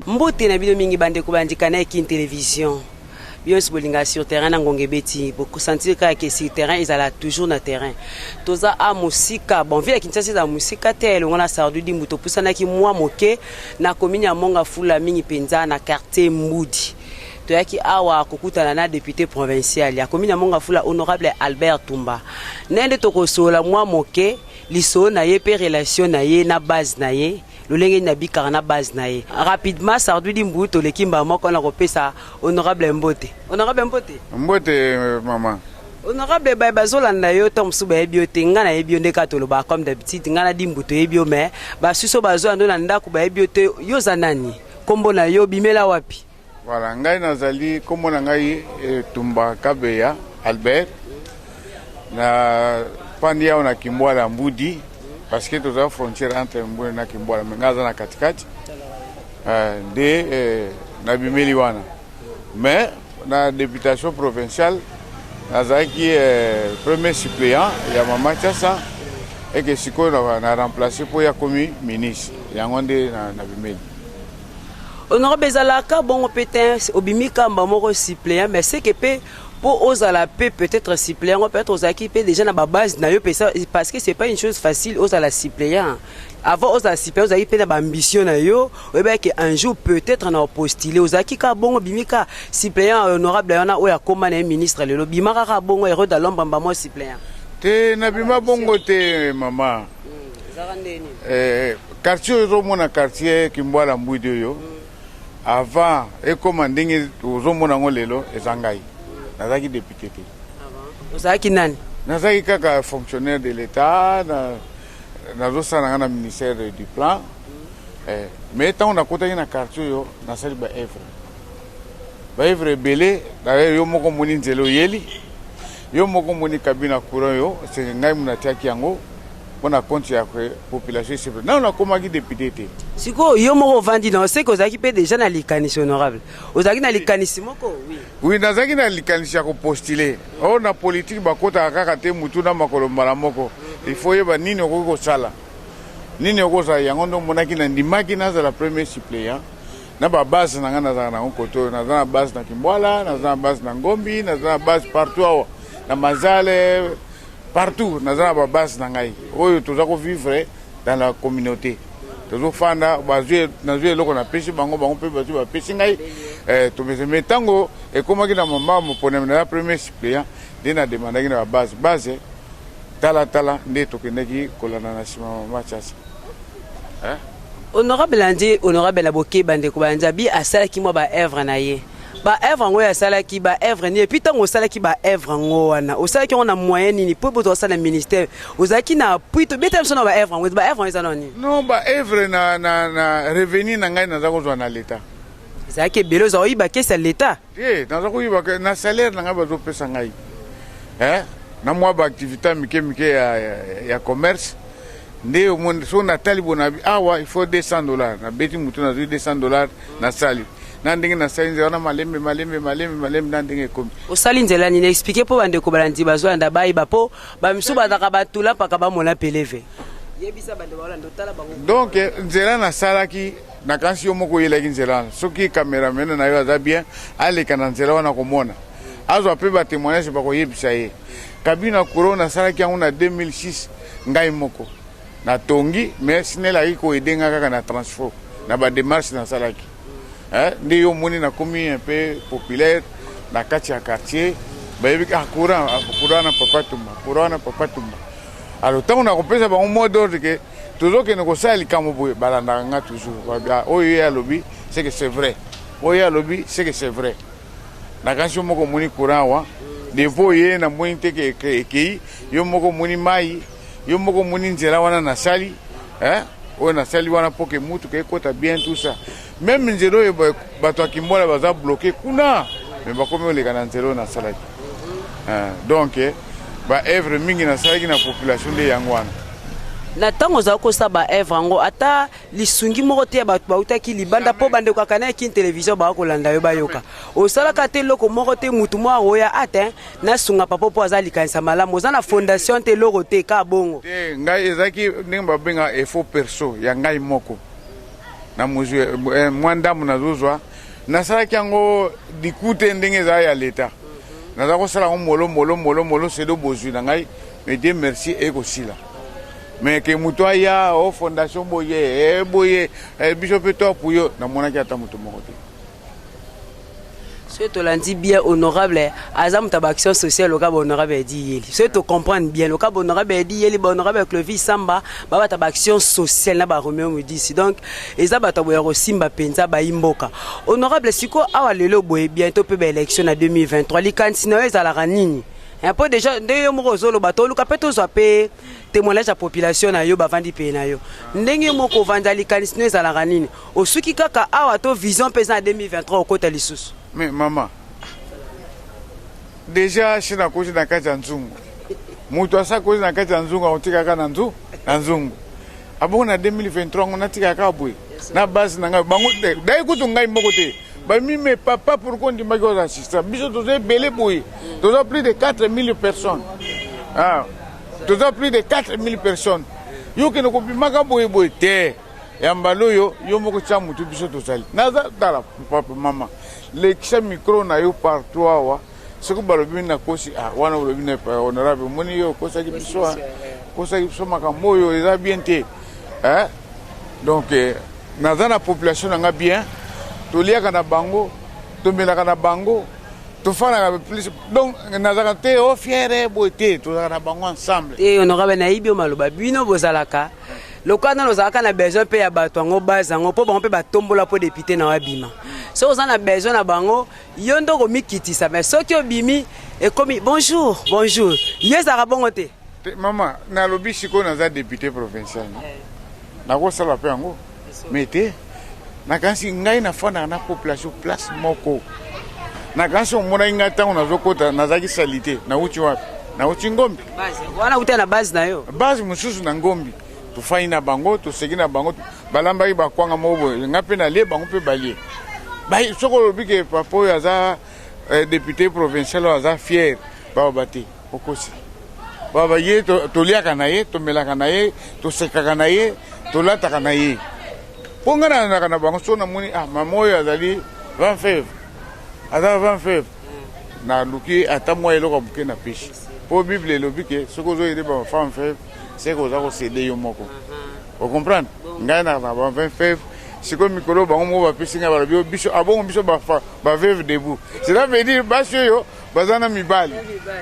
mbote na bino mingi bandeko bandika na ekin television bino nyonso bolingaka sur terrain na ngonga ebeti bokosantire kaka ke sur terrain ezala toujours na terrain toza a mosika bon ville ya kinshasa ezala mosika te elongo na sardudimbu topusanaki mwa moke na komini ya Monga Fula, mingi mpenza na quartier Mbudi. Toyaki awa kokutana na depute provincial ya komini ya Monga Fula, honorable Albert Tumba, naye nde tokosola mwa moke lisolo na ye mpe relation na ye na base na ye lolenge nini abikaka na base na ye rapidement sardudi mbu toleki mbala moko na kopesa honorable mbote honorable mbote mbote euh, mama Honorable baye bazolanda yo ntango mosusu bayebi yo te ngai nayebi yo nde kaka tolobaka comme d'habitude ngai na dimbu toyebi yo mais basusu bazoya ndo na ndako bayebi yo te yo oza nani nkombo na yo bimela wapi voilà ngai nazali nkombo na ngai etumba eh, kabeya albert na pandi awa na kimbwala mbudi parce que toza frontière entre mbudi na kimbwala me ngai aza na katikati eh, nde eh, nabimeli wana Mais na deputation provinciale nazalaki eh, premier suppléant ya mama Chasa eke sikoyo na, na remplace mpo ya komi ministre yango nde na, na bimeli honorable ezalaka bongo mpe te obimi kamba moko suppléant mais seke mpe mpo ozala mpe peut-être suppléant yango peut-être ozalaki mpe déjà na babase na yo parce que c'est pas une chose facile ozala suppléant avant ozala super ozalaki mpe na baambition na yo oyebaki ke un jour peut-être na opostile ozalaki kaka bongo bimi kaka suppléant ya honorable wana oyo akoma na ye ministre lelo bima kaka bongo hero da lomba mbamo suppléant te nabima bongo te mama hmm, eh, quartier oyo ozomona quartier kimbwala mbwidi oyo hmm. avant ekoma ndenge ozomona yango lelo eza ngai hmm. nazalaki député te ah ozalaki nani nazalaki kaka fonctionnaire de l'état na nazosala nanga na ministère du plan eh, mais ntango nakotaki na quartier oyo nasali baevre baevre ebele dayere yo moko omoni nzela oyeli yo moko omoni kabina courant yo seke ngai mona atiaki yango mpo na konti ya population esepela nano nakomaki depute te sikoyo yo moko ovandi na oseke ozalaki mpe deja na likanisi honorable ozalaki na likanisi moko oui nazalaki na likanisi ya kopostule Oh, na politique bakotaka kaka te mutu na makolo mbala moko il faut yeba nini okoki kosala nini okozala yango ndo omonaki na ndimaki nazala premier suppléant na babase na ngai nazalaka nango kote oyo naza na base na kimbwala naza na base na ngombi naza na base partout awa na mazale partout naza na babase na ngai oyo toza kovivre dans la communauté tozofanda bazwi nazwi eloko napesi bango bango mpe bazwi bapesi ngai eh, tomese mai ntango ekomaki na mama moponami na ya premier suppléant nde nademandaki na babase base talatala nde tokendaki kolanda na nsima mama chasa eh? honorable andi honorable na bokeba ndeko banzabi asalaki mwa baevre na ye ba œuvre yango asalaki ba œuvre nini epuis ntango osalaki ba œuvre yango wana osalaki yango na moyen nini mpo boto osala ministère ozalaki na appui tobetela biso na ba œuvre yango ba œuvre yango eza na nini non ba œuvre na, na, na revenu na ngai naza kozwa na leta ezalaki ebele ozala oyiba kesi ya leta ye naza koyiba na salaire na ngai bazopesa ngai eh? na mwa baaktivité ya mike mike ya, ya, ya commerce nde omoni so natali bonabi awa il faut 200 dollars nabeti motu nazwi 200 dollars nasali na ndenge nasali nzela wana malembe malembe malembe malembe na ndenge ekomi osali nzela nini explike mpo bandeko balandi bazolanda bayeba mpo bamisu bazalaka batula mpaka bamona peleve yebisa bande baolanda otala bango donc nzela nasalaki nakanisi yo moko oyelaki nzela wana soki kameramene na yo aza bien aleka na nzela wana komona azwa mpe batemoignage bakoyebisa ye kabina kuro nasalaki yango na 2006 ngai moko Na tongi mais snel ayaki ko aider nga kaka na transfo na ba demarches nasalaki eh, nde yo omoni nakomi un peu populaire na kati ya quartier bayebi ah, courant ah, courant na papa tumba courant na papa tumba alors ntango nakopesa bango mot d'ordre ke tozokende kosala likambo boye balandaka nga toujours ah, oyo ye alobi c'est que c'est vrai oyo ye alobi c'est que c'est vrai nakanisi yo moko omoni courant awa depo ye namoni te ekei yo moko omoni mai Yo moko moni nzela wana nasali eh? oyo nasali wana mpo ke mutuka ekota bien tout ça meme nzela oyo bato ya kimbola baza bloke kuna me bakomi oleka na nzela oyo nasalaki eh, donc eh, baevre mingi nasalaki na population nde yango wana na ntango ozali kosala baevre yango ata lisungi moko te ya bato bautaki libanda mpo bandeko ya Canal Kin Television baka kolanda yo bayoka osalaka te eloko moko te motu moko akoya ate nasunga papa mpo aza likanisa malamu oza na fondation te eloko te ka bongo te ngai ezalaki ndenge babenga efo perso ya ngai moko na mozwi eh, mwa ndambo nazozwa nasalaki yango liku te ndenge ezala ya leta naza kosala yango molo molo molo molo sedo bozwi na ngai medie merci ekosila mais ke moto aya o oh, fondation boye eh, boye eh, biso mpe to apuyo namonaki ata moto moko te soki tolandi bien honorable aza moto ya baaction sociale loka bahonorable ya diyeli soki tocomprendre bien loka bahonorable ya diyeli bahonorable ya clovis samba babata baaction sociale na baromeo modisi donc eza bato boya kosimba mpenza bayi mboka honorable sikoyo awa lelo boye bientôt mpe baélection na 2023 likanisi na yo ezalaka nini mpo deja nde yo moko ozoloba toluka mpe tozwa mpe temoignage ya population na yo bavandi peye na yo ndenge yo moko ovanda likanisi no ezalaka nini osuki kaka awa to vision mpe eza na 2023 okota lisusu me mama deja si nakozi na kati ya nzungu moto asi akozi na kati ya nzungu akotikaka na nzungu abongo na 2023 yango natika kaka boye na base na ngai bango dai kutu ngai moko te bamimi me papa pourkoi ondimaki oza assistant biso toza ebele boye toza plus de 4000 personnes ah, toza plus de 4000 personnes yo kende kobimaka boye boye te ya mbala oyo yo moko tya motu biso tozali naza tala papa mama lekisa mikro na yo partout awa soki balobi nakosi ah, wana olobi na epai honorable omoni yo okosaki biso okosaki biso makambo oyo eza bien te eh? donc eh, naza na population na nga bien toliaka na bango tomelaka na bango tofandaka plus donc nazalaka te o oh, fiere boye te tozalaka na bango ensemble e honorable nayebi yo maloba bino bozalaka lokola nano ozalaka na besoin mpe ya bato yango base yango mpo bango mpe batombola mpo depute na yo abima soki oza na besoin na bango Yo nde okomikitisa mais soki obimi ekomi bonjour bonjour yo ezalaka bongo te. Te mama nalobi sikoyo naza depute provincial eh. nakosala mpe yango me te nakanisi ngai nafandaka na population place moko nakanisi omonaki ngai ntango nazokota nazalaki salite nauti wapi nauti ngombi wana uta na base na yo base mosusu na ngombi tofandi na bango toseki na bango balambaki bakwanga moko boye nga mpe nalie bango mpe balie soki olobi ke papa oyo aza eh, depute provincial oyo aza fiere baoba te okosi baoba ye toliaka na ye tomelaka na ye tosekaka na ye tolataka na ye mpo ngai nalandaka na bango soki namoni ah mama oyo azali 20 feve aza 20 feve naluki ata mwa eloko moke na peshi mpo bible elobi ke soki ozoyede bamafame feve seke oza kosede yo moko ocomprendre ngai na ba 20 feve sikoyo mikolo bango moko bapesi ngai balobi yo biso abongo biso baveve debout cela veut dire basi oyo baza na mibali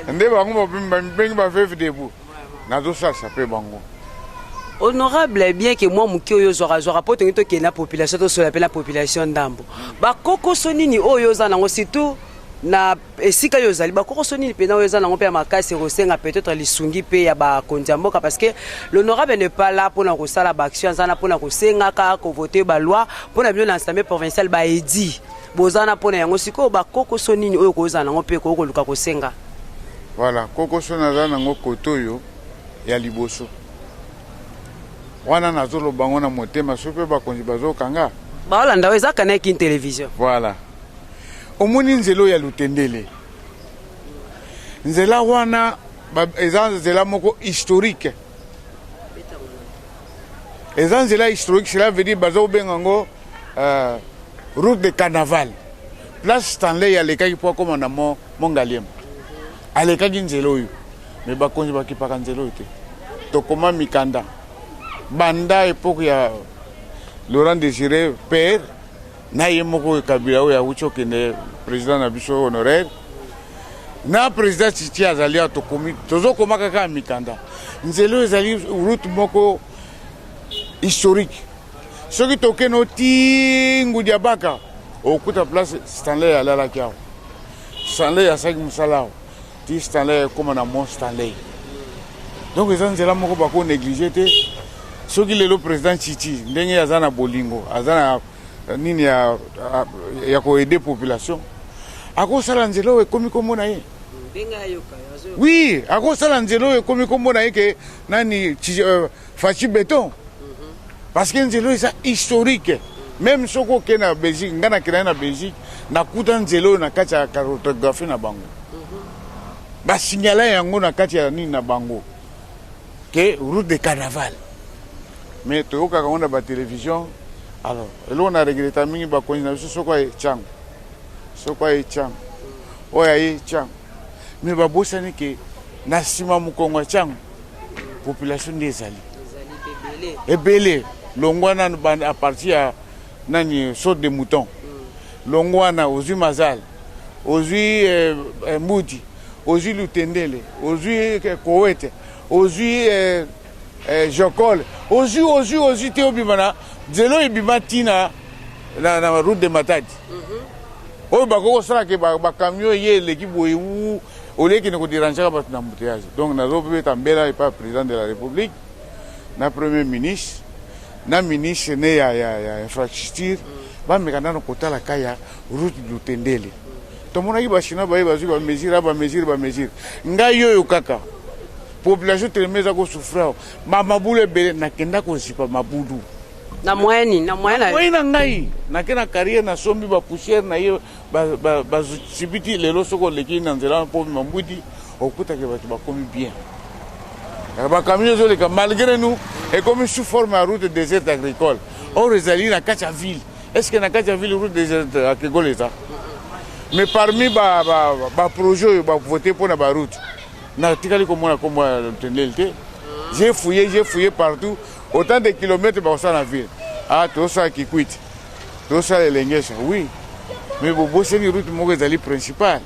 nde bango bamibenge baveve debout nazosalisa mpe bango honorable bien ke mwa moke oyo ozwakazwaka mpo tongi tokende na population tosola mpe na population ndambo bakokoso nini oyo oza nango surtout na esika yo ozali bakokoso nini mpenza oyo eza nango mpe ya makasi ekosenga peut-être lisungi mpe ya bakonzi ya mboka parce que l'honorable ne pas là mpona kosala baaction aza na mpona kosengaka kovote baloi mpona bino na assemblée provinciale baedi boza na mpona yango sikoyo bakokoso nini oyo kozala nango mpe ekoki koluka kosenga voilà kokoso naza nango kote oyo ya liboso wana nazoloba yango na motema soki mpe bakonzi bazokanga baolanda oyo eza kanaki television voilà omoni nzela oyo ya lutendele nzela wana eza nzela moko historique eza nzela historique cela veut dire baza kobenga yango euh, route de carnaval place stanley alekaki mpo akóma na mongaliema alekaki nzela oyo me bakonzi bakipaka nzela oyo te tokoma mikanda banda epoke ya laurent désiré père na ye moko kabila oyo awuti okende president na biso honoraire na president titi azali awa tokomi tozokoma kaka ya mikanda nzela oyo ezali route moko historique soki tokende oti ngudiabaka okuta place stanley alalaki awa stanley asaki mosala awa Ti Stanley ekoma na Mont Stanley. Donc eza nzela moko bako negliger te. Soki lelo president Chichi ndenge aza na bolingo, aza na eh, nini ya eh, ya ko aider population. Akosala nzela oyo ekomi kombo na ye. Oui, akosala nzela oyo ekomi kombo na ye ke nani Chichi, euh, Fachi beton parce que nzela eza historique meme soki okei na belgique ngai nakenda na belgique nakuta nzela oyo na kati ya cartographie na bango basignala yango na kati ya nini na bango ke route de carnaval mais toyokaka yango na batelevision alors eloko na regreta mingi bakonzi na biso soko aye cango soko aye cango oyo aye cango mais babosani ke na nsima mokongo atiango population nde ezali ebele longwa nanu a partir ya nani sorte de mouton mm. longwa wana ozwi mazal ozwi eh, eh, mbuti ozwi lutendele ozwi eh, kowete ozwi eh, Eh, Jokol, ozwi ozwi ozwi te obima na nzela ebima ti na, na, na route de Matadi mm -hmm. oyo bakoki kosala ke bacamion ba eye eleki boye u oleki na koderangeaka bato na embouteillage donc nazobeta mbela epa président de la république na premier ministre na ministre ne ya, ya, ya infrastructure mm. bameka nano kotala ka ya route lutendele mm. tomonaki bachinois baye bazwi bamesure a bamesure bamesure ngai oyo kaka Population telema eza ko souffrir awa. Ba mabulu ebele nakenda kozipa mabulu. Na moyen nini? Na moyen na Moyen na ngai nake na carrière nasombi ba poussière na ye ba ba ba sibiti lelo soki oleki na nzela wana po mambwidi okutake bato bakomi bien. Eh, Ba camion ezoleka malgré nous ekomi sous forme ya route déserte agricole. Or ezali na kati ya ville. Est-ce que na kati ya ville route déserte agricole eza? Mais parmi ba ba ba projet oyo ba voter pona ba route natikali komona nkombo ya lotendeli te je fouye je fouye partout autant de kilomètre bakosala na ville ah tosala kikwiti tosala elengesa oui mais bobosani route moko ezali principale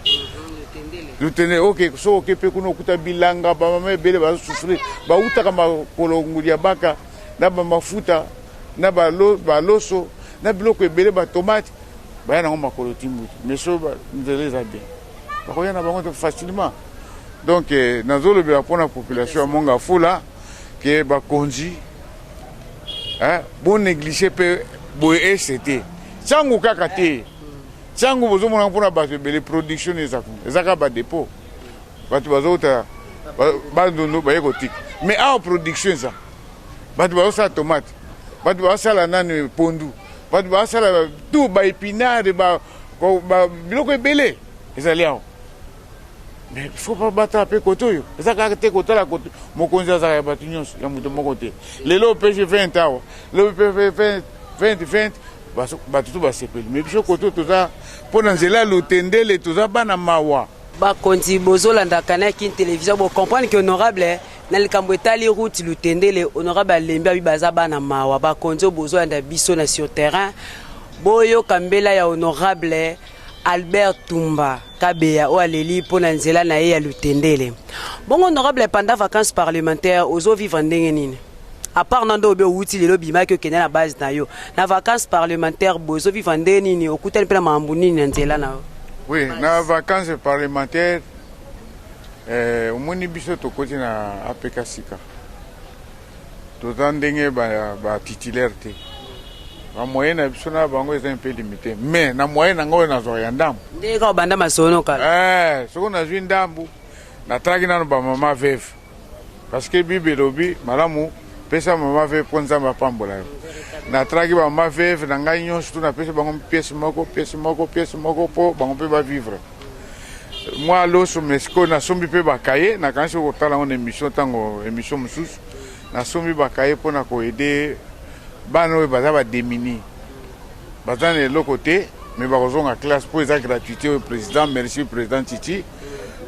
lutende oke soki oke mpe kuna okuta bilanga bamama ebele bazosufrir bautaka makolo ngudi ya baka na bamafuta na baloso na biloko ebele batomate baya nango makolo timbuti mais so nzela eza bien bakoya na bango facilement donc eh, nazolobela mpo na population ya monga fula ke bakonzi eh, bonéglige mpe boye ese te ntango kaka te ntango bozomonaka mpo na bato ebele production ezaka badepot bato bazouta bandundu baye kotika mais awa production eza bato bazosala tomate bato bazosala nani pondu bato bazosala tout baepinare biloko ebele ezali awa mais faut pas batala mpe kote oyo eza kaka te kotala kote mokonzi azalaka ya bato nyonso ya moto moko te lelo pg 20 awa lelo pg 20 bato to basepeli mais biso kote toza mpo na nzela ya lotendele toza bana mawa bakonzi bozolanda kanaki television bocomprendre ke honorable eh, na likambo etali route lutendele honorable alembi abi baza bana mawa bakonzi oyo bozolanda biso na sur terrain boyoka mbela ya honorable eh, Albert Tumba Kabeya oyo aleli mpo na nzela na ye ya lutendele. Bongo honorable panda vacances parlementaire ozo vivre ndenge nini? A part na ndo obi owuti lelo bimaki okende na base na yo. Na vacances parlementaire bo ozo vivre ndenge nini? Okutani mpe na makambo nini na nzela na yo? Oui, na vacances parlementaire eh, omoni biso tokoti na APK sika. toza ndenge ba, ba titulaire te ba moyen na biso na bango eza un peu limité mais na moyen na ngai oyo nazwaka ya ndambu nde kaka obanda masono kala eh, soki nazwi ndambu natalaki nano bamama veve parce que bible elobi malamu pesa mama veve mpo nzambe apambola yo natalaki bamama veve na ngai nyonso tu napesi bango piese moko piese moko piese moko mpo bango mpe bavivre mwa loso mesiko nasombi mpe bakaye nakanisi okotala yango na émission ntango émission mosusu nasombi bakaye mpo na koede bana oyo baza bademini baza na eloko te me bakozonga classe mpo eza gratuité oyo président merci président titi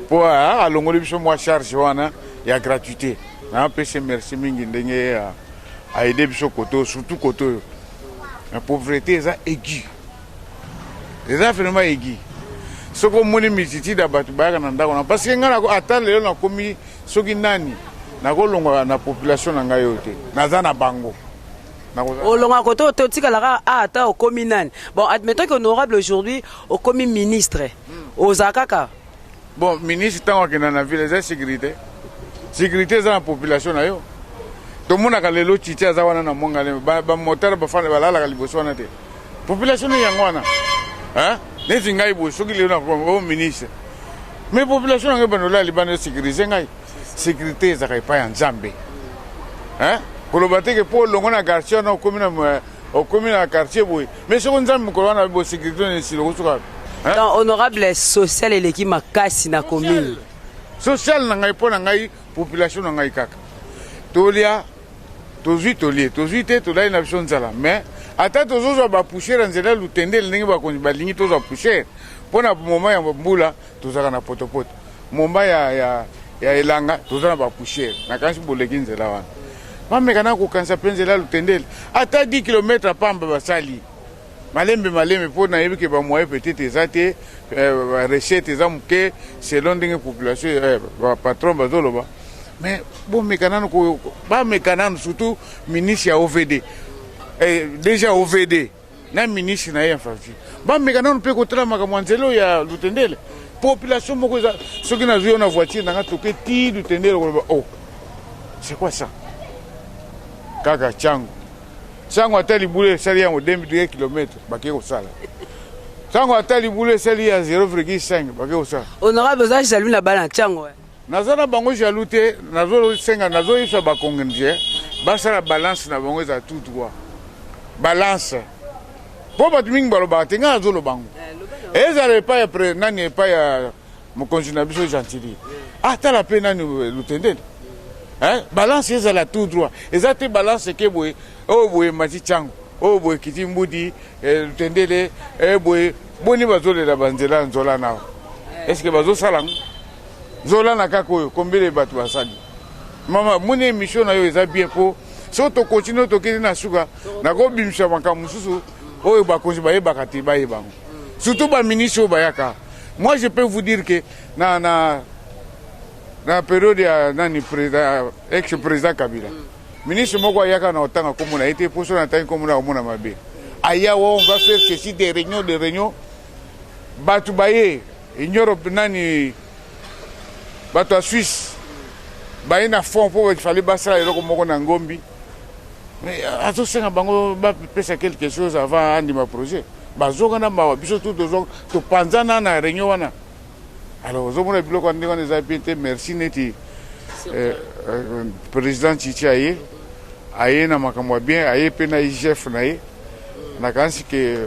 mpo ah, alongoli biso mwa charge wana ya gratuité napesi merci mingi ndenge aede ah, biso kote oyo surtout kote oyo na pauvreté eza aigu eza vraiment egi soki omoni multitude ya bato bayaka na ndako na parce que ngai ata lelo nakomi soki nani nakolonga na population na ngai oyo te naza na bango olonga kote oyo te otikala kaka a ata okomi nani bon admettons que honorable aujourd'hui okomi ministre hmm. ozala kaka Bon, ministre ntango akenda na ville eza securite securite eza na population na yo tomonaka lelo titi aza wana na mongale bamotare bafanda balalaka liboso wana te population no yango wana neti ngai boye soki lelo nakomi o oh, ministre mais population yango ebanda olala libanda esécurise ngai sécurité ezalaka epai ya nzambe koloba te ke mpo olongo na garcia na okomi na okomi na quartier boye mais soko nzambe mokolo wana bo sécurité na esilo kosuka hein? donc honorable social eleki makasi na commune social na ngai mpo na ngai population na ngai kaka tolia tozwi tolie tozwi te tolali na biso nzala mais ata tozozwa bapouchere ya nzela lutendele ndenge bakonzi balingi tozwa pouchere mpo na moment ya mbula tozalaka na potopoto Momba ya, ya, ya elanga toza na bapoussière nakanisi boleki nzela wana bameka na kokanisa mpe nzela lutendele ata 10 kilometre pamba basali malembe malembe mpo nayebi ke bamoye peut-être eza te euh, recette eza moke selon ndenge population euh, bapatron bazoloba mais bomeka nanu bameka nanu surtout ministre ya ovd eh, déjà ovd na ministre na ye ya infrastructure bameka nano mpe kotala makambo ya nzela oyo ya lutendele population moko eza soki nazwi yo na voiture nanga toke ti lutendele okoloba o oh, c'est quoi ça kaka cango cango ata libulu esali yango 22 kilomètre bakei kosala cango ata libulu esali ya 0,5 bakei kosala honorable oza jaloux na bana cango eh. Naza na bango jaloux te nazo senga nazo yebisa ba congolais basala balance na bango eza tout droit balance mpo bato mingi balobaka te ngai nazoloba yango eh, ezala epai ya pre nani epai ya mokonzi na biso gentili ah tala mpe nani eh, lutendeni eh, balance ezala tout droit eza te balance eke boye oyo oh, boye mati cango oyo oh, boye kiti mbudi lutendele boye boni bazolela banzela nzola nao estce bazosala yango Zola na kaka oyo combien de bato basali mama moni émission na yo eza bien po soki tokontinue tokende na suka nakobimisa makambo mosusu oyo bakonzi bayebaka te bayeba yango surtout baministre oyo bayaka moi je peux vous dire que na, na, na periode ya nani président ex président kabila ministre moko ayaka na otanga komona ye te mposo na ntangi komona komona mabe aya wa on va faire ceci des réunions des réunions bato baye In Europe nani bato ya Suisse baye na fond mpo ifali basala eloko moko na ngombi euh, azosenga bango bapesa quelque chose avant andima projet bazoka na mawa biso tu topanzana na réunion wana alors ozomona biloko ndenge wana eza bien te merci neti euh, euh, président chichi aye aye na makambo ya bien aye mpe na igf na ye nakanisi ke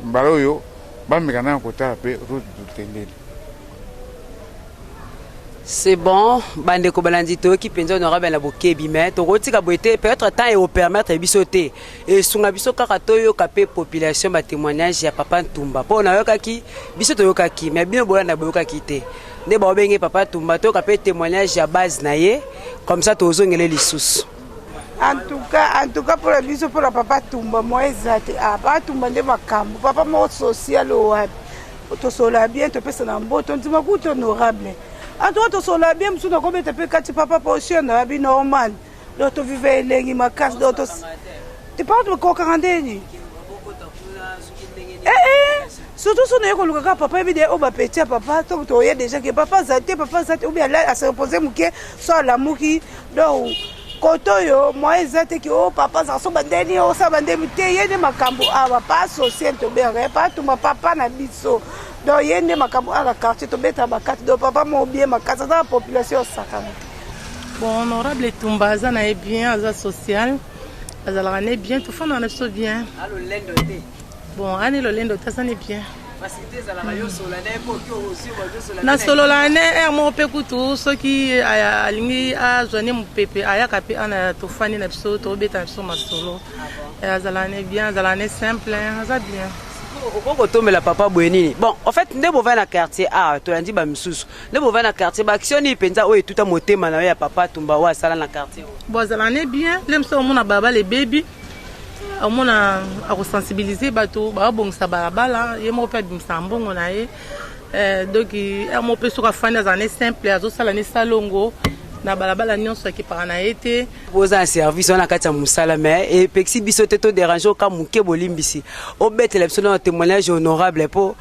mbala oyo Bameka nanu kotala mpe route du Tendele. C'est bon, bandeko balandi toyoki mpenza honorable na bokebi mais tokotika boye te peut-être temps ekopermettre biso te esunga biso kaka toyoka mpe population batémoignage ya papa ntumba mpo nayokaki biso toyokaki mais bino bolanda boyokaki te nde baobenge papa ntumba toyoka mpe témoignage ya base na ye comme ça tozongele lisusu antuka antuka mpo na biso mpo na papa tumba moye eza te ah, papa tumba nde makambo papa moko social oyo wapi tosolola bien topesana mboto ndima kutu honorable antuka tosolola bien mosusu nakobeta mpe kati papa position na bi normal donc toviva elengi makasi donc tipaa tokokaka ndeni ee eh, eh, surtout so naye koluka kaka papa yebi de oyo bapeti ya papa to toye déjà ke papa aza te papa aza te obi asepose moke so alamuki donc kote oyo moyen eza te ki o oh, papa aza kosoba ndeni osaba ndemi te ye nde makambo awa pa asocier toberge pa atuma papa na biso donc ye nde makambo ala quartier tobeta bakati donc papa moko bie makasi aza na population osakana bon honorable etumba aza na ye bien aza social azalaka ne bien tofandaka na biso bien bon ane lolendo te aza ne bien nasololaka ne ere moko mpe kutu soki alingi azwa ne mopepe ayaka mpe ana tofandi na biso tobeta na biso masolo azalaka ne bien azalaka ne simple aza bien okoki kotomela papa boye nini bon en fait nde bovai na quartier a tolandi bamisusu nde bovai na quartier baaction nini mpenza oyo etuta motema na yo ya papa tumba oyo asala na quartier bo azala ne bien nde mosu omona balabala ebebi omona akosensibilize bato babongisa balabala ye moko mpe abimisaka mbongo na ye eh, donki ere moko mpe soki afandi azala ne simple azosala ne salongo na balabala nyonso akipaka na ye te oza na service wana kati ya mosala mais epekisi biso te toderange oka moke bolimbisi obetela biso na témoignage honorable mpo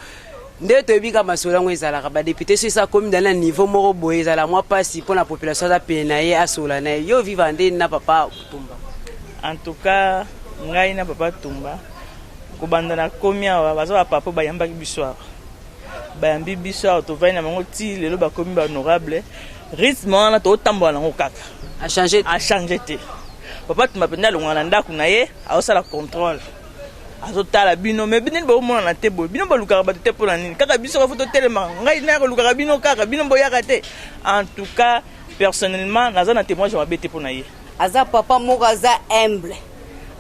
nde toyebi kaka masolo yango ezalaka badepute so esa komi dali na niveau moko boye ezala mwa mpasi mpo na population aza pene na ye asola na ye yo viva nde na papa tumba en tout cas ngai na papa tumba kobanda na komi awa baza bapapa oyo bayambaki biso awa bayambi biso awa tovandi na bango ti lelo bakomi bahonorable rythme wana totambola nango kaka achange te papa tumba mpenza alongwa na ndako na ye aosala contrôle azotala bino me nini baomonana te boye bino balukaka bato te mpo na nini kaka biso kafo totelema ngai naya kolukaka bino kaka bino boyaka te en tout cas personnellement naza na témoignage mabe te mpo na ye aza papa moko aza humble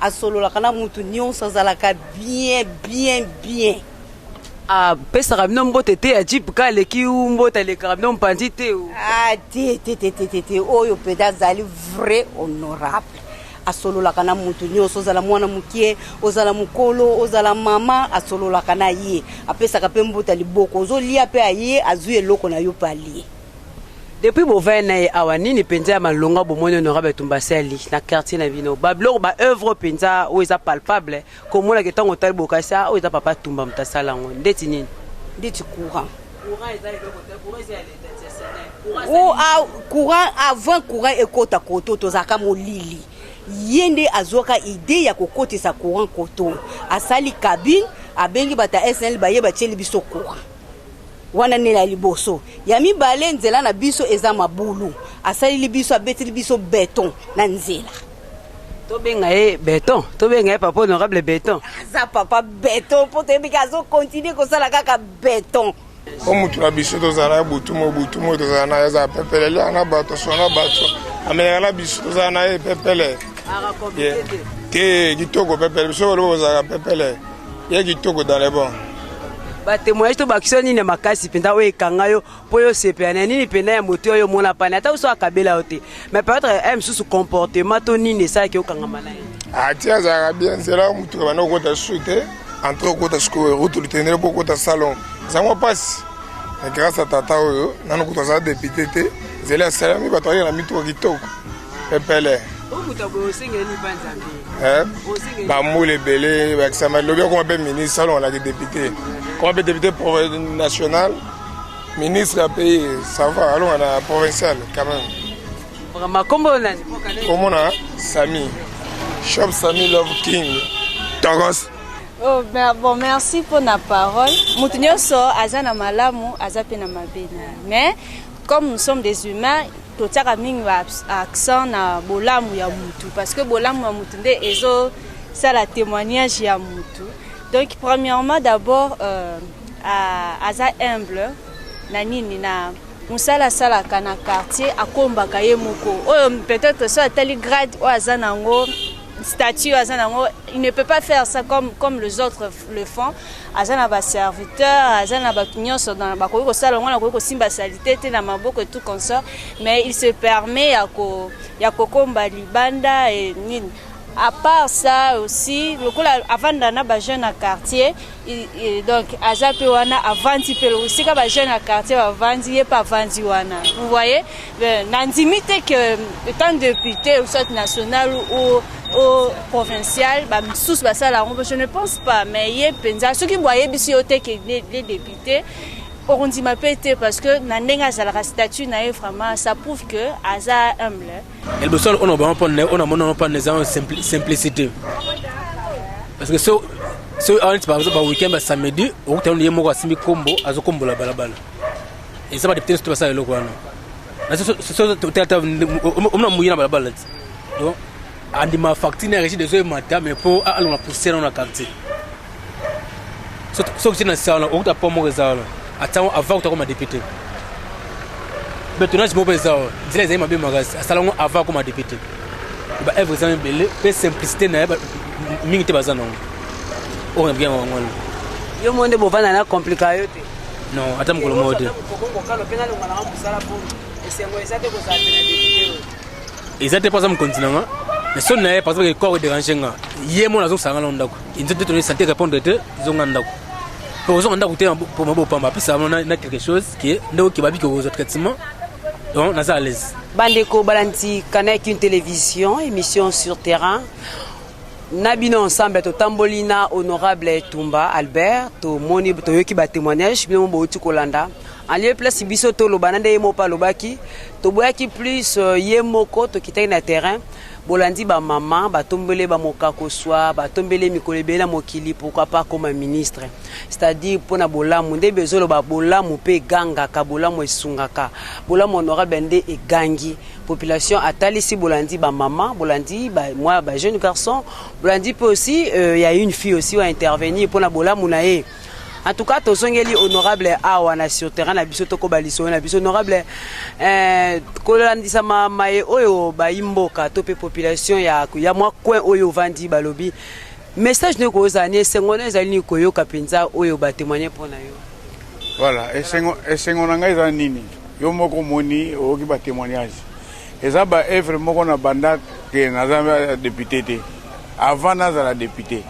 asololaka na motu nyonso azalaka bien bien bien apesaka bino mbote te ya jip ka aleki mbote alekaka bino mpanzi te te te te te te oyo mpenza azali vrai honorable asololaka na moto nyonso, ozala mwana mokie, ozala mokolo, ozala mama, asololaka na ye, apesaka mpe mbuta liboko, ozolia mpe aye azwi eloko na yo mpe alie. Depuis bovaya na ye awa nini mpenza ya malonga bomoni honorable Tumba asali na quartier na bino, babiloko ba œuvre mpenza oyo eza palpable Komona ke tango otali bokasi ah oyo eza papa Tumba moto asala yango ndeti nini? Ndeti courant. Courant eza eloko te, courant eza ya leta tia Senel. Courant O eza a courant avant courant ekota koto tozalaka molili. Ye nde azwaka idee ya kokotisa courant koto. Asali cabine abengi bata SNL baye batieli biso courant. Wana nela ya liboso. Ya mibale nzela na biso eza mabulu. Asaleli biso abeteli biso beton na nzela. tobenga ye beton tobenga ye papa honorable beton aza papa beton mpo toyebi ke azokontinue kosala kaka beton mpo motu na biso tozala ya butu mo butu mo tozala na ye azala pepele eliaka na bato sona na bato amelaka na biso tozala na ye pepele te kitoko pepele biso koloba kozalaka pepele ye kitoko dans le bon batemoyage tobakisa nini ya makasi mpenza oyo ekanga yo mpo yo osepela na nini mpenza ya moto oyo omona pani ata oso akabela yo te mais peut-être eh, mosusu comportement to nini esalaki okangama na ye ati ah, azalaka bien nzela motuka banda okota susu te entre okota sikoyo route litendele mpo okota salon ezango mpasi mais grâce ya tata oyo nano kutu aza depute te nzela esalami bato ayela mituka kitoko pepele bambula ebele bakisama lobi akoma mpe ministre alonganaki depute koma mpe depute national ministre ya pays sava alonga na provincial quand même komona sami shop sami love king togos Oh, bon, merci pour la parole. Moto nyonso aza na malamu, aza pe na mabe. Mais comme nous sommes des humains, totiaka mingi ba accent na bolamu ya mutu parce que bolamu ya mutu nde ezo sala témoignage ya mutu donc premièrement d'abord euh, aza humble na nini na mosala asalaka na quartier akombaka ye moko oyo peut-être so atali grade oyo aza na yango statut aza na yango il ne peut pas faire ça comme, comme les autres le fond aza na ba serviteur aza na bato nyonso bakoki kosala yango nakoki kosimba salite te na maboko tout consort mais il se permet ya kokomba libanda e nini à part ça aussi lokola avanda na bajeune na quartier donc aza mpe wana avandi mpe esika bajeune na quartier bavandi ye mpe avandi wana vous voyez Euh, nandimi te que euh, etant député ou soit national ou au provincial bamisusu basala yango je ne pense pas mais ye mpenza soki bo ayebisi yo te ke les députés okondima mpe te parce que na ndenge azalaka statut na ye vraiment ça prouve que aza humble liboso ona bango mpo na ona mona mpo na eza simplicité parce que so so awaniti par exemple ba weekend ba samedi okutana ye moko asimbi kombo azokombola balabala eza badepute nyonso te basala eloko wana omona moye na balabala ti don andima facture na régie dezo emata mais mpo alonga poussière na na quartier soki tina nsa wana okuta po moko eza wana atango avant kuta koma député betonage moko mpe eza wana nzela ezali mabe makasi asala yango avant akoma député ba œuvre eza ebele mpe simplicité na ye mingi te baza na yango oyo na bianga yango wana yo mo nde bovanda na komplika yo te Non, ata mokolo moko te. eza te mpo aza mokonzi na nga mais soni na ye par exemple corps dérange nga ye mona azongisa nga na ndako inzo te toni santé répondre te zonga ndako mpo ozonga ndako te mpo mabo opamba apesa na quelque chose ke nde okeba biki okozwa traitement donc naza à l'aise bandeko balandi canal une télévision émission sur terrain na bino ensemble totamboli na honorable tumba albert tomoni toyoki batémoignage bino bouti kolanda en lieu place biso toloba na nde ye moko mpe alobaki toboyaki plus euh, ye moko tokitaki na terrain bolandi bamama batombele bamokakoswa batombele mikolo ebele na mokili pourkui pas akoma ministre c'est-à-dire mpo na bolamu nde bezoloba bolamu mpe egangaka bolamu esungaka bolamu honorable nde egangi population atalisi bolandi ba maman bolandi ba moi ba jeune garçon bolandi pe aussi euh, ya une fille aussi wa intervenir pona bolamu na ye en tout cas tozongeli honorable awa na sur terrain na biso tokoba lisolo na biso honorable eh, kolandisama maye oyo bayi mboka to mpe population ya, ya mwa coin oyo ovandi balobi message nde kozala ni esengo na ezali ni koyoka mpenza oyo batemoigne mpo na yo Voilà, esengo, esengo na ngai eza nini? Yo moko moni oyoki ba témoignages. Eza ba œuvre moko na banda ke naza député te. Avant nazala député.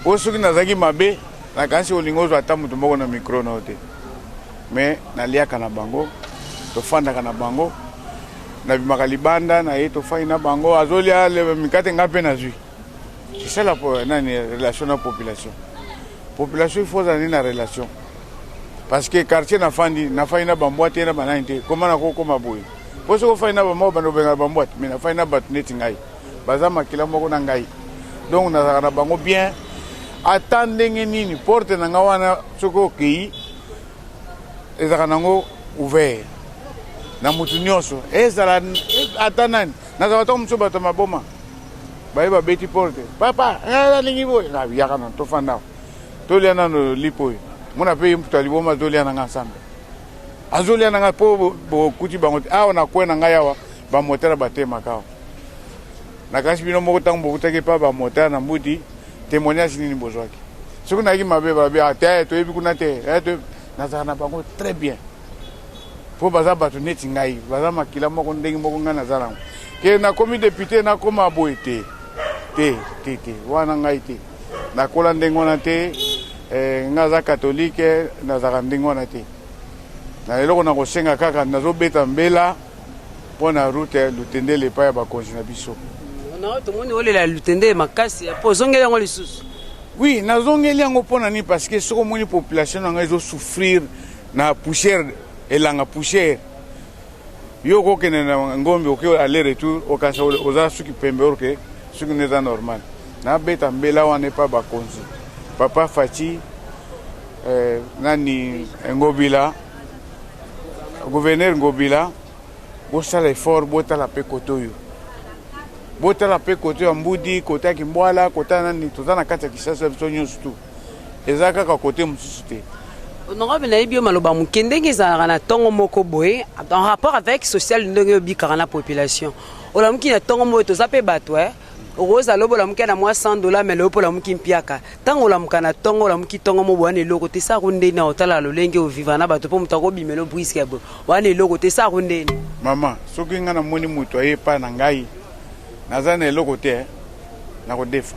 Oyo soki nazalaki mabe, nakanisi olingi ozwa ata moto moko na micro na yo te. Mais naliaka na bango, tofandaka na bango, nabimaka libanda na ye tofai na bango, azolia mikate ngai mpe nazwi. C'est ça la nani relation na population. Population il faut aller na relation. Parce que quartier na fandi na fandi na bambwa te na banani te. Comment na ko koma boye. Po soko fandi na bambwa bando benga bambwa mais na fandi na bat net ngai. Baza makila moko na ngai. Donc na na bango bien. Ata ndenge nini porte na nga wana soki okei ezalaka nango ouvert na motu nyonso ezala ata nani nazalaka ntango mosusu bato ya maboma baye babeti porte papa nalingi boye yaka na tofanda tolia nano lipo oyo mona mpe ye moto ya liboma tolia na ngai nsambe azolia na ngai mpo bokuti bango te awa na kwe na ngai awa bamotala batemaka awa nakanisi bino moko ntango bokutaki epa bamotala na mbuti témoignage nini bozwaki soki nayaki mabe babi ah, te toyebi kuna te eh, nazalaka na bango très bien mpo baza bato neti ngai baza makila moko ndenge moko ngai naza nango ke nakomi depute nakoma boye te te te te wana ngai te nakola ndenge wana te eh, ngai aza katolike nazalaka ndenge wana te na eloko nakosenga kaka nazobeta mbela mpo na rute lutendele epai ya bakonzi na biso tomoni olela lutendele makasi mpo ozongeli yango lisusu oui nazongeli yango mpo na nini parce que soki omoni population na ngai ezosouffrir na poussière elanga poussière yo okokende na ngombe oke aller retour okanisa oza suki pembe orke suki nde eza normal nabeta mbela wana epa bakonzi papa faci eh, nani ngobila gouverneur ngobila bosala effort botala mpe kote oyo botala mpe kote ya mbudi kote ya kimbwala kote ya nani toza na kati ya kisasa biso nyonso tu eza kaka kote mosusu te honorable nayebi yo maloba moke ndenge ezalaka na ntongo moko boye en rapport avec social ndenge obikaka na population olamuki na ntongo moko toza mpe bato eh? okozala lobo olamuki na mwa 100 dola me loyo mpo olamuki mpiaka ntango olamuka na ntongo olamuki ntongo mo wana eloko te sako ndeni otala lolenge oviva na bato mpo moto akobimela obriske ya boye wana eloko te sako ndeni mama soki ngai namoni moto aye epai na ngai naza na eloko te eh? nakodefa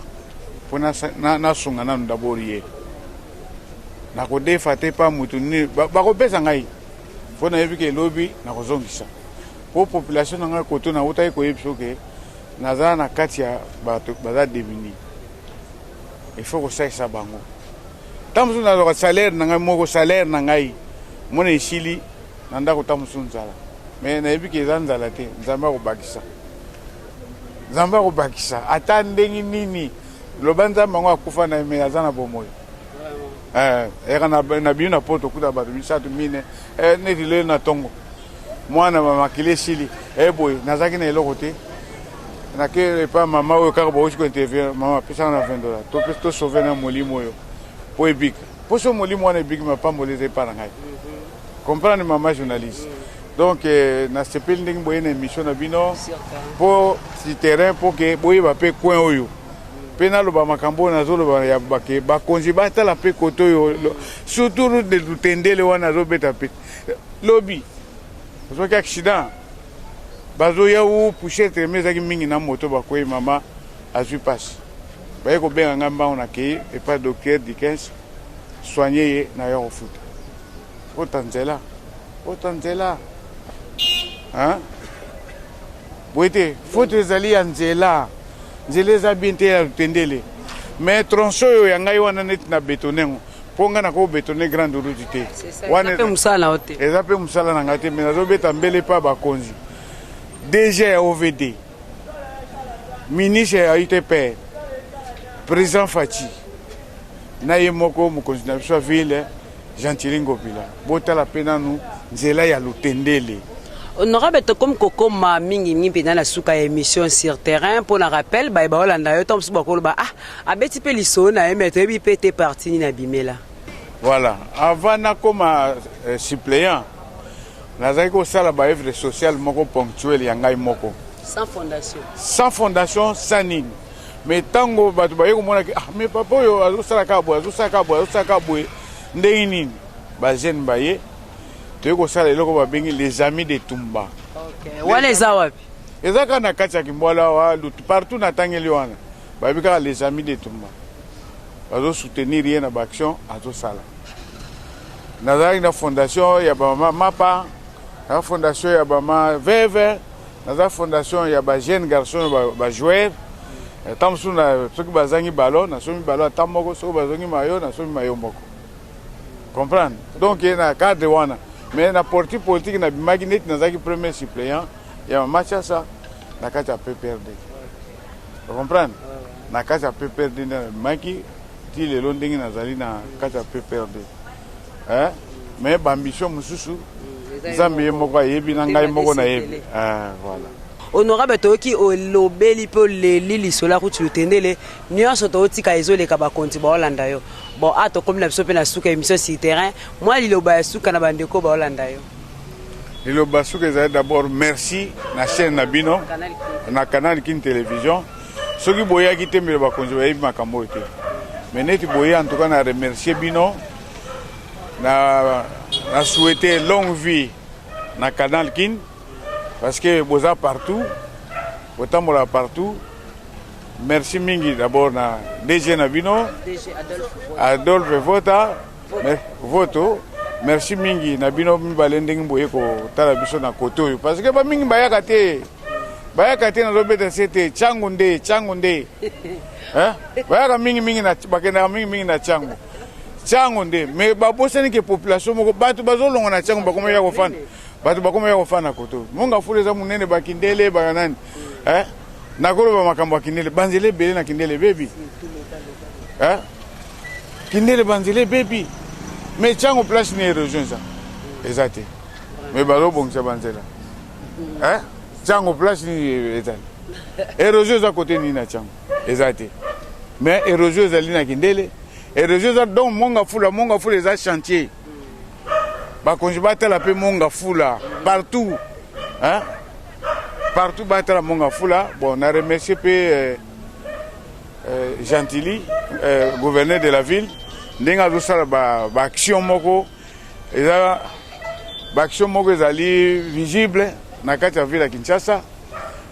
mpo nasunga nanu dabord ye nakodefa te mpa motu nini bakopesa ngai mpo nayebi ke lobi nakozongisa mpo population na ngai koto nautaki koyebi soke naza na kati ya bato baza demini ifo kosalisa bango ntango mosusu nazwaka salaire na ngai moko salaire na ngai mona esili na ndako ntango mosusu nzala me nayebi ke eza nzala te nzambe akobakisa nzambe akobakisa ata ndenge nini loba nzambe yango akufa na eme aza na bomoi eh, eyaka na bino na poto okuta bato misato mine eh, neti leli na ntongo mwana makili esili eboye eh, nazalaki na eloko te nake epa mama oyo kaka bauti kointerview mama apesaka na 20 dollars tosauve na molimo oyo mpo ebika mposo molimo wana ebiki mapamboli eza epa na ngai mhm. Comprendre maman journaliste. Donc euh, na sepeli ndenge boye na émission na bino po si terrain po ke boyeba pe coin oyo mpe naloba makambo oyo nazoloba ya bake bakonzi batala mpe kote oyo surtout route de lutendele wana azobeta mpe lobi ozwaki accident bazoya u pouchette me ezalaki mingi na moto bakwei mama azwi mpasi baye kobenga ngai mbango nakei epai docteur dikens soigne ye na yo kofuta Ota nzela. Ota nzela. Hein? Boye te, faute ezali ya nzela. Nzela eza bien te ya lutendele. Mais tronçon oyo ya ngai wana neti na betone yango. Mpo ngai nako betone grande route te. Wana eza mpe mosala na yo te. Eza mpe mosala na ngai te, mais nazobeta mbele mpa bakonzi. DG ya OVD, ministre ya UTPR, président Fatshi, na ye moko mokonzi na biso ya ville Gentili Ngobila, botala pe nanu nzela ya Lutendele. Honorable tokomi kokoma mingi mingi mpenza na suka ya emission sur terrain mpo na rappel baye baolanda yo ntango mosusu bakoloba ah abeti mpe lisolo na ye me toyebi mpe te parti nini abimela voilà avant nakoma euh, suppléant nazalaki kosala baœuvre sociale moko ponctuelle ya ngai moko sans fondation sans fondation sans nini me ntango bato baye komona ke ah me papa oyo azosala kaka boye azosala kaka boye azosala kaka boye ndenge nini bajeune baye toyei kosala eloko babengi les amis de tumba okay. wana eza wapi eza kaka na kati ya kimbwala awa lutu partout natangeli wana bayebi kaka les amis de tumba bazosoutenir ye na baaction azosala nazalaki na fondation ya bamama mapa na fondation ya bama veve naza fondation ya ba jeune garçon ba, ba joueur ata mosusu na soki bazangi balo nasombi balo ata moko soki bazongi mayo nasombi mayo moko comprendre donc ye na cadre wana mais na porti politique nabimaki neti nazalaki premier suppléant ya mama chasa na kati ya pprd comprendre na kati ya pprd nde nabimaki ti lelo ndenge nazali na kati ya pprd eh? mais bambition mosusu mm, nzambe ye moko ayebi na ngai moko nayebi eh, voilà honorable toyoki olobeli mpe oleli lisolo ya kuti lutendele nyonso totika ezoleka bakonzi baolanda yo bon a ah, tokomi na biso mpe na suka émission sur terrain mwa liloba ya suka na bandeko baolanda yo liloba suka ezali d'abord merci na chaîne na bino na canal kin télévision soki boyaki te mbele bakonzi bayebi makambo oyo te me neti boye en tout cas na remercier bino na, na souhaite longue vie na canal kin parce que boza partout botambola partout merci mingi d'abord na dg na bino adolphe vota voto merci mingi na bino mibale ndenge boye kotala biso na kote oyo parce que bamingi bayaka te bayaka te nazobeta se te cango nde cango nde eh? bayaka mingimingi bakendaka mingimingi na cango cango nde me babosani ke population moko bato bazolonga na cango bakomi ya kofanda bato bakomi ya kofanda koto monga fula eza monene bakindele baya nani eh? nakoloba makambo ya kindele banzela ebele na kindele ebebi eh? kindele banzela ebebi me cango place ni erosion eza eza te me bazobongisa banzela eh? Chango place nini ezali erosion eza kote nini na Chango eza te mais erosion ezali na kindele erosion eza donc monga fula monga fula eza chantier bakonzi batala mpe monga fula partout hein? partout batala monga fula bon na remercie mpe euh, euh, gentili euh, gouverneur de la ville ndenge azosala baaction ba moko eza baaction moko ezali visible na kati ya ville ya kinshasa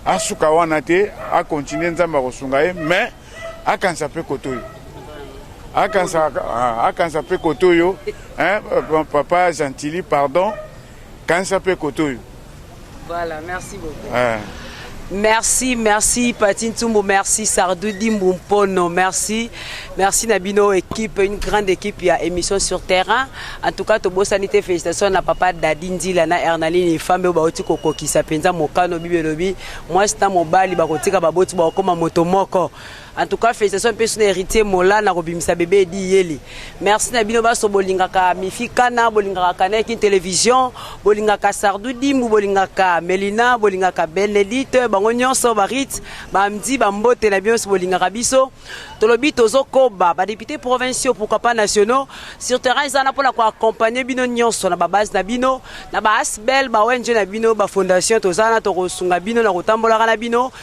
asuka wana te akontinue nzambe akosunga ye mais akanisa mpe koto oyo akanisa mpe koto oyo papa gentili pardon Kanisa pe kote oyo. Voilà, merci beaucoup. Ah. Merci, merci Pati Ntumbu, merci Sardou Dimbu Mpono, merci. Merci na bino équipe, une grande équipe ya émission sur terrain. En tout cas, tobosani te félicitations na papa Dadi Ndila na Ernaline Fambe oyo bauti kokokisa mpenza mokano bibelobi mwasi na mobali bakotika baboti bakokoma moto moko. En tout cas, félicitations mpe suna héritier Mola na kobimisa bebe edi yeli. Merci na bino baso bolingaka Mifi Kana, bolingaka Kana kin télévision, bolingaka Sardou Dimbu, bolingaka Melina, bolingaka Benedite, bango nyonso barit, bamdi bambote na bino bolingaka biso. Tolobi tozo koba ba députés provinciaux pourquoi pas nationaux sur terrain ezana pona ko accompagner bino nyonso na ba base na bino, na ba asbel, ba ONG na bino, ba fondation tozana tokosunga bino na kotambolaka na bino.